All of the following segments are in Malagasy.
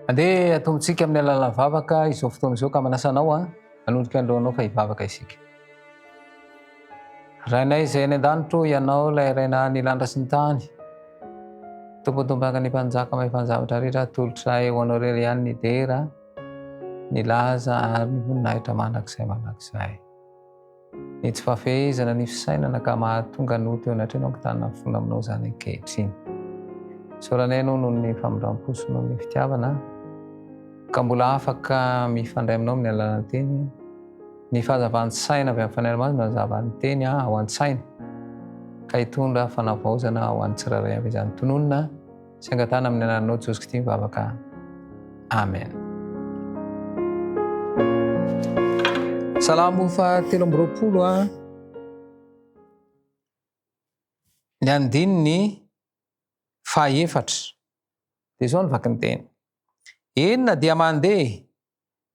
Andeha atombontsika amin'ny alalan'ny vavaka izao fotoana izao ka manasa anao an, hanolotra androanao fa hivavaka isika. Rainay izay any an-danitro, ianao ilay Ray naha ny lanitra sy ny tany. Tompontompanka ny mpanjaka mahefan-javatra rehetra, atolotra eo anao irery ihany ny dera, ny laza ary ny voninahitra mandrakizay mandrakizay. Ny tsy fahafehezana ny fisainana ka mahatonga ny ho teo anatrehanao mitana ny fony aminao izany ankehitriny. Isaorana Ianao noho ny famindram-po sy noho ny fitiavana ka mbola afaka mifandray aminao amin'ny alalan'ny Teny. Ny fahazavan-tsaina avy amin'ny Fanahy Masina no hanazava ny Teny ao an-tsaina ka hitondra fanavaozana ho an'ny tsirairay avy izany. Tononina. Tsy angatahana amin'ny anananao Jesosy Kristy ny vavaka. Amen. Salamo fa telo amby roapolo a. Ah. Ny andininy fahaefatra. Dia izao ny vakiny teny. Enina dia mandeha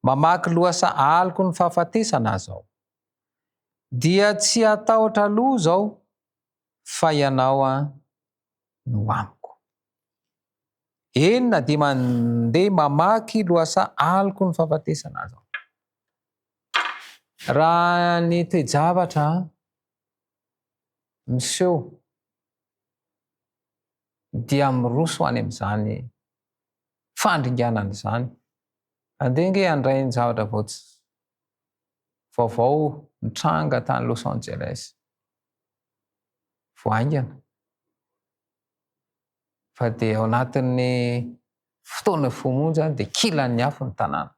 mamaky loasa aliko ny fahafatesana azao. Dia tsy atahotra loha zao fa ianao a ah, no amiko. Eny na dia mandeha mamaky lohasaha aloky ny fahafatesana aza aho. Raha ny toe-javatra miseho dia miroso any amin'izany fandringanana izany. Andeha ange handray ny zavatra vao tsy vaovao nitranga tany Los Angeles. vao haingana fa dia ao anatin'ny fotoana vao monja dia kilan'ny afo ny tanàna.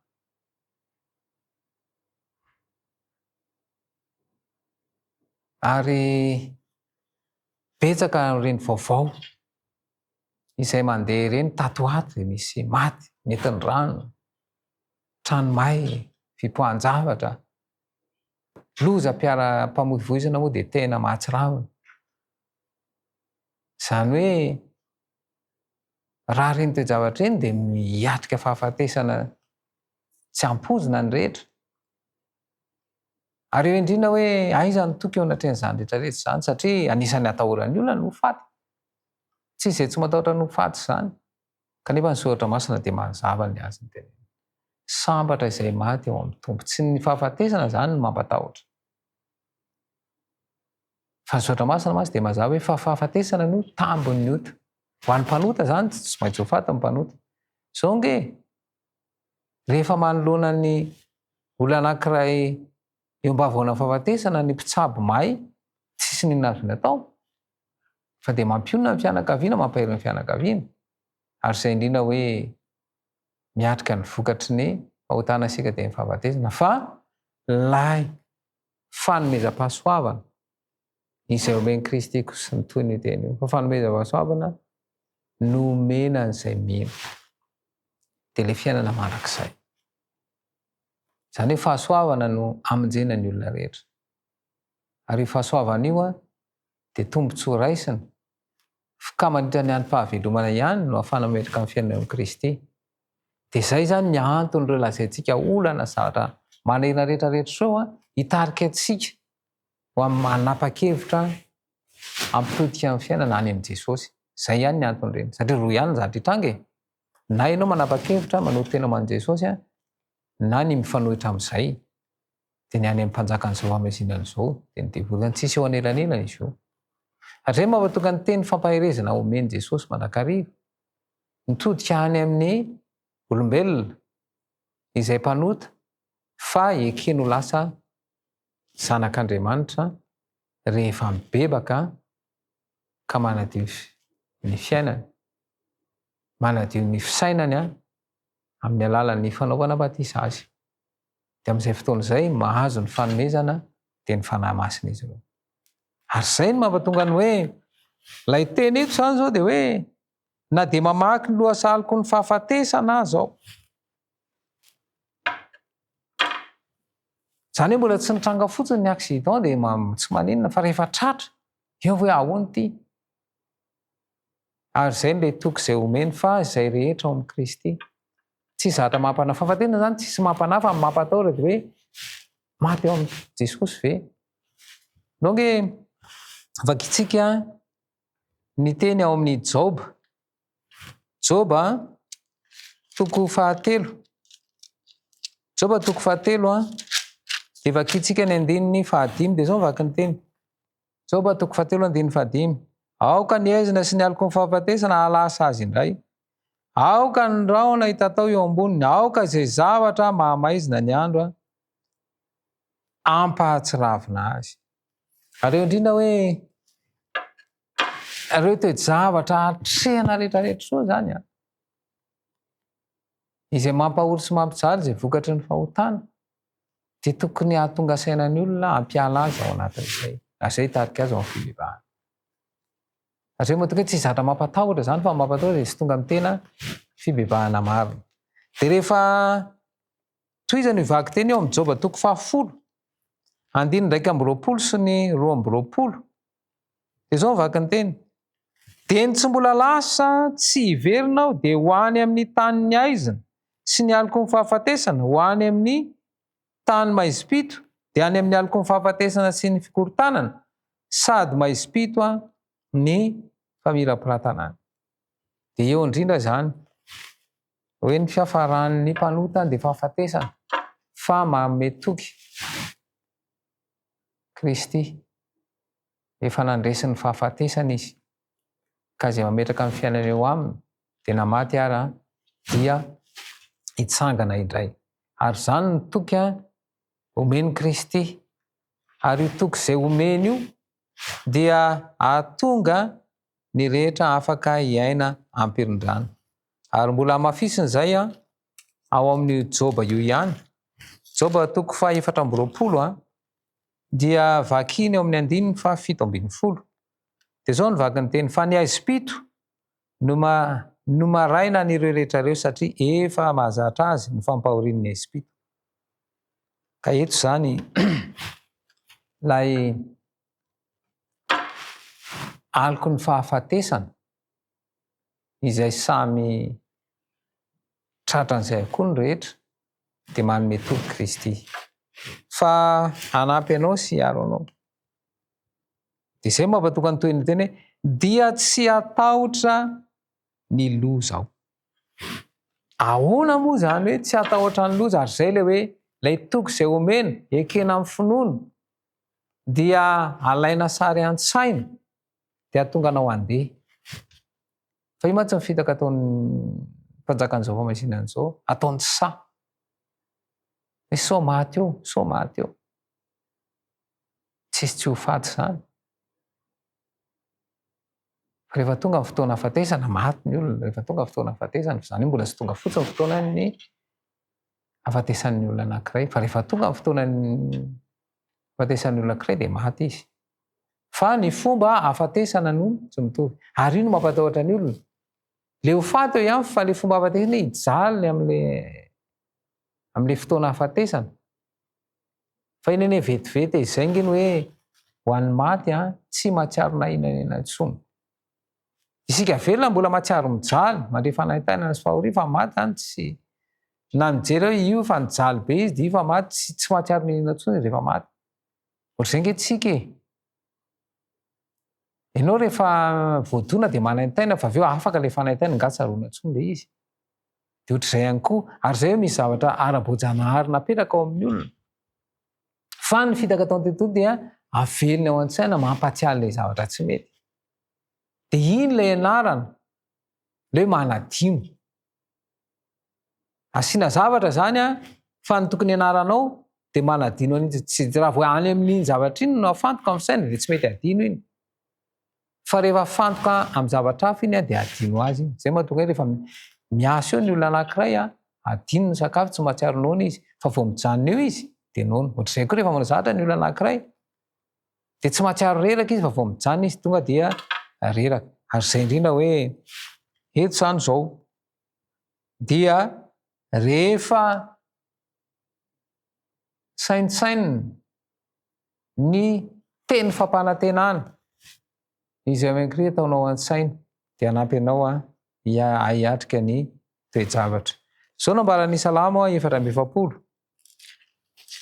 Ary betsaka ireny vaovao izay mandeha ireny tato ho ato dia misy maty, nentin'ny rano, trano may, fipoahan-javatra, Loza mpiara-pamoivoizana moa dia tena mahatsiravina. Izany hoe raha ireny toe-javatra ireny dia miatrika fahafatesana tsy ampoizina ny rehetra. Ary eo indrindra hoe aiza ny toky eo anatrehan'izany rehetra rehetra izany satria anisan'ny atahoran'ny olona ny ho faty. Tsy misy izay tsy matahotra ny ho faty izany. Kanefa ny Soratra Masina dia manazava ny azon'ny teneniny. Sambatra izay maty ao amin'ny Tompo. Tsy ny fahafatesana izany no mampatahotra. Fa ny Soratra Masina mantsy dia mazava hoe fa fahafatesana no tambin'ny ota. Ho an'ny mpanota izany dia tsy maintsy ho faty ny mpanota. Izao ange, rehefa manoloana ny olona anankiray Eo ambavoana fahafatesana ny mpitsabo may tsisy n'inona azony atao fa dia mampionona ny fianakaviana mampahery ny fianakaviana ary izay indrindra hoe miatrika ny vokatry ny fahotana isika dia ny fahafatesana fa lay fanomezam-pahasoavana izay omen'i Kristy koa sy ny toy ny teny io fa fanomezam-pahasoavana no omena an'izay mino dia le fiainana mandrakizay Izany hoe fahasoavana no hamonjena ny olona rehetra. Ary io fahasoavana io dia tombontsoa raisina, fka mandritra ny androm-pahavelomana ihany no ahafahana mametraka ny fiainana eo amin'i Kristy. Dia izay izany ny anton'ireo lazaintsika olana sy zavatra manahirana rehetrarehetra sao hitarika antsika ho amin'ny manapa-kevitra hampihodika ny fiainana any amin'i Jesosy. Izay ihany ny anton'ireny, satria roa ihany ny zavatra hitranga e! Na ianao manapa-kevitra manoro tena ho an'i Jesosy na ny mifanohitra amin'izay, dia ny any amin'ny mpanjakan'izao famezinana izao, dia ny devoly any, tsisy eo anelanelany izy io. Hatreto mampatonga ny teny fampaherezana omen'i Jesosy mandrakariva, mitodika any amin'ny olombelona izay mpanota fa ekeny ho lasa zanak'Andriamanitra rehefa mibebaka ka manadio ny fiainany, manadio ny fisainany an, amin'ny alalan'ny fanaovana batisa azy. Dia amin'izay fotoana izay, mahazo ny fanomezana dia ny Fanahy Masina izy ireo. Ary izay no mampatonga ny hoe, ilay teny eto izany izao dia hoe, na dia mamaky ny lohasaliko ny fahafatesana aza aho, Izany hoe mbola tsy nitranga fotsiny ny accident dia tsy maninona fa rehefa tratra eo hoe ahoana ity? Ary izay ilay toky izay omeny fa izay rehetra ao amin'i Kristy. Tsy zatra mampanahy. Fahafatesana izany tsy mampanahy fa mampatahotra dia hoe maty ao amin'i Jesosy ve? Donc vakintsika ny teny ao amin'ny Job Joba toko fahatelo. Joba toko fahatelo an. Dia vakintsika ny andininy fahadimy. Dia zao vaky ny teny. Joba toko fahatelo andininy fahadimy. Aoka ny ezina sy ny aloko ny fahafatesana halasa azy indray. Aoka ny rahona hitatao eo amboniny. Aoka izay zavatra mahamaizina ny andro an. Ampahatsiravina azy. Aleo indrindra hoe Ireo toe-javatra atrehina rehetrarehetra soa izany an. Izay mampahory sy mampijaly izay vokatry ny fahotana dia tokony hahatonga saina ny olona hampiala azy ao anatin'izay. Ary izay hitarika azy ao amin'ny fibebahana. Ary izay moa tokoa tsy zatra mampatahotra izany fa mampatahotra dia tsy tonga amin'ny tena fibebahana marina. Dia rehefa tohizany io vaky teny eo amin'ny Joba toko fahafolo, andininy iraika amby roapolo sy ny roa amby roapolo, Dia izao ny vakinteny, Dia ny tsy mbola lasa tsy hiverina aho dia ho any amin'ny tany nihaizina sy ny aloky ny fahafatesana, ho any amin'ny tany maizim-pito, dia any amin'ny aloky ny fahafatesana sy ny fikorontanana, sady maizim-pito ny famirapiratana any. Dia eo indrindra izany hoe ny fiafaran'ny mpanota dia fahafatesana fa manome toky. Kristy, efa nandresy ny fahafatesana Izy, ka izay mametraka ny fiainany eo Aminy, dia na maty ara, dia hitsangana indray. Ary izany no toky omen'i Kristy. Ary io toky izay omeny io dia ahatonga ny rehetra afaka hiaina am-pirindrana. Ary mbola hamafisina izay ao amin'io Joba io ihany. Joba toko faha efatra amby roapolo a, dia vakiny ao amin'ny andininy faha fito ambin'ny folo. Dia izao ny vaky ny teny, fa ny aizim-pito no, ma, no maraina an'ireo rehetra ireo, satria efa mahazatra azy ny fampahorian'ny aizim-pito. Ka eto izany ilay aloky ny fahafatesana. izay samy tratran'izay avokoa ny rehetra dia manome toky Kristy fa hanampy anao sy hiaro anao. Dia izay mampatoka ny tohin'ny teny hoe dia tsy hatahotra ny loza aho. Ahoana moa izany hoe tsy hatahotra ny loza ary izay ilay hoe ilay toky izay omena ekena amin'ny finoana dia alaina sary an-tsaina Dia hahatonga anao handeha. Fa io mantsy ny fitaka ataon'ny mpanjakan'izao famaizina an'izao, ataony saha. Hoe sao maty eo, sao maty eo. Tsisy tsy ho faty izany. Rehefa tonga ny fotoana hafatesana, maty ny olona. Rehefa tonga ny fotoana hafatesana, fa izany mbola tsy tonga fotsiny ny fotoanan'ny hafatesan'ny olona anankiray. Fa rehefa tonga ny fotoanan'ny Fahafatesan'ny olona ankiray dia maty izy. Fa ny fomba ahafatesana no tsy mitovy. Ary io no mampatahotra ny olona. Le ho faty eo ihany fa le fomba ahafatesana hijaly amin'le amin'le fotoana ahafatesana. Fa iny anie vetivety izay ngeny hoe ho an'ny maty an, tsy mahatsiaro na inona na inona intsony. Isika velona mbola matsiaro mijaly, mandre fanaintainana sy fahoriana fa maty zany tsy na nijery aho io fa nijaly be izy dia io fa maty tsy tsy mahatsiaro ny inona tsony rehefa maty. Ohatr'izay nge tsika e. Enao rehefa voadona dia manaintaina fa avy eo afaka ilay fanaintaina nga tsaroana tsony ilay izy. Dia ohatr'izay ihany koa, ary izay misy zavatra ara-boajanahary napetraka ao amin'ny olona. Fa ny fitaka atao an-tontolo dia avelony ao an-tsaina mampatsiahy ilay zavatra tsy mety. De iny lay anarana le hoe manadino. Asiana zavatra zany a fa ny tokony anaranao de manadino an'iny tsy de raha vao any amin'iny zavatra iny no afantoka amin'ny saina de tsy mety adino iny. Fa rehefa afantoka amin'ny zavatra hafa iny a de adino azy iny. Zay mahatonga ahy rehefa miasa eo ny olona anankiray a adino ny sakafo tsy mahatsiaro noana izy fa vao mijanona eo izy de noana. Ohatr'izay koa rehefa manao zavatra ny olona anankiray dia tsy mahatsiaro reraka izy fa vao mijanona izy tonga dia reraka ary izay indrindra hoe eto izany izao dia rehefa saintsainina ny teny fampanantenana izay minkry ataonao an-tsaina dia hanampy anao a hiatrika ny toe-javatra. Izao nambaran'ny salamo efatra amby efapolo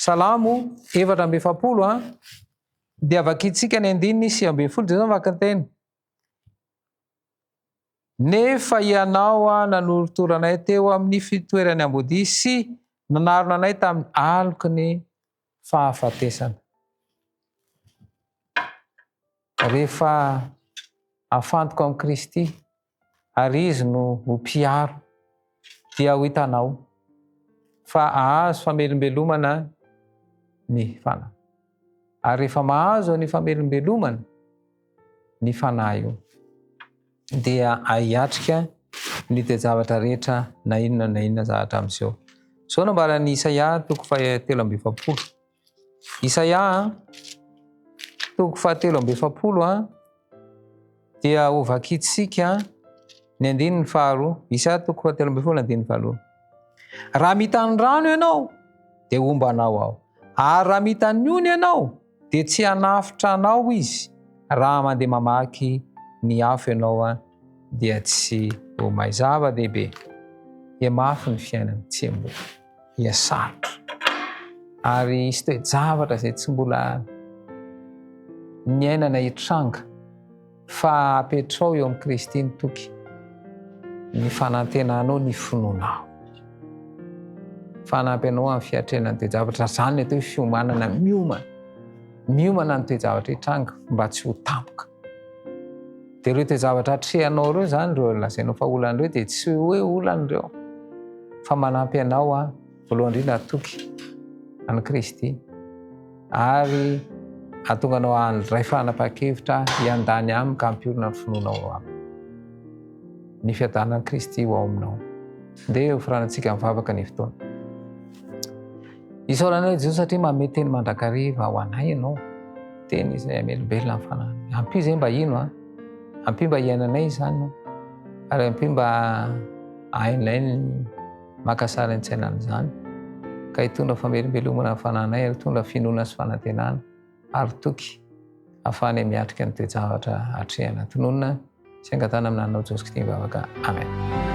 Salamo efatra amby efapolo a dia vakintsika ny andininy sy amby folo dia zany vakinteny nefa ianao a nanoritoranay teo amin'ny fitoerany ambodi sy nanarona anay tamin'ny aloky ny fahafatesana rehefa afantoka amin'i kristy ary Izy no ho mpiaro, dia ho hitanao fa hahazo famelombelomana ny fanahy. Ary rehefa mahazo an'io famelombelomana ny fanahy io, dia ahiatrika ny toe-javatra rehetra na inona na inona zavatra miseho. Izao nambaran'i Isaia toko fahatelo amby efapolo. Isaia toko fahatelo amby efapolo a dia ho vakintsika ny andininy faharoa Isaia toko fahatelo amby efapolo andininy faharoa raha mitany rano ianao dia homba anao aho ary raha mitany ony ianao dia tsy hanafitra anao izy raha mandeha mamaky ny afo ianao a dia tsy ho may zava-dehibe dia mafy ny fiainana tsy amboa dia sarotra. Ary hisy toe-javatra izay tsy mbola niainana hitranga fa apetrao eo amin'i Kristy ny toky, ny fanantenanao, ny finoanao. Fanampy anao amin'ny fiatrenan'ny toe-javatra. Izany atao hoe fiomanana miomana. Miomana ny toe-javatra hitranga mba tsy ho tampoka. Dia ireo toe-javatra atrehanao ireo izany, ireo lazainao fa olana ireo, dia tsy hoe olana ireo, fa manampy anao aho, voalohany indrindra hatoky an'i Kristy, ary hahatonga anao handray fanapahan-kevitra hiandany aminy ka hampiorina ny finoanao aminy. Ny fiadanan'i Kristy ho ao aminao. Ndeha ho firanantsika mivavaka ny fotoana. Isaorana anao Jesoa satria manome teny mandrakariva ho anay ianao. Teny izay amelombelona ny fanahy. Ampio izay mba hino a. Ampio mba hiainanay izany. Ary ampio mba hainay ny makasary an-tsaina an'izany. Ka hitondra famelombelomana ny fananay ary hitondra finoana sy fanantenana. ary toky hafahany miatrika ny toe-javatra atrehana. Tononina sy angatahana amin'ny anao Jesosy Kristy ny vavaka. Amen.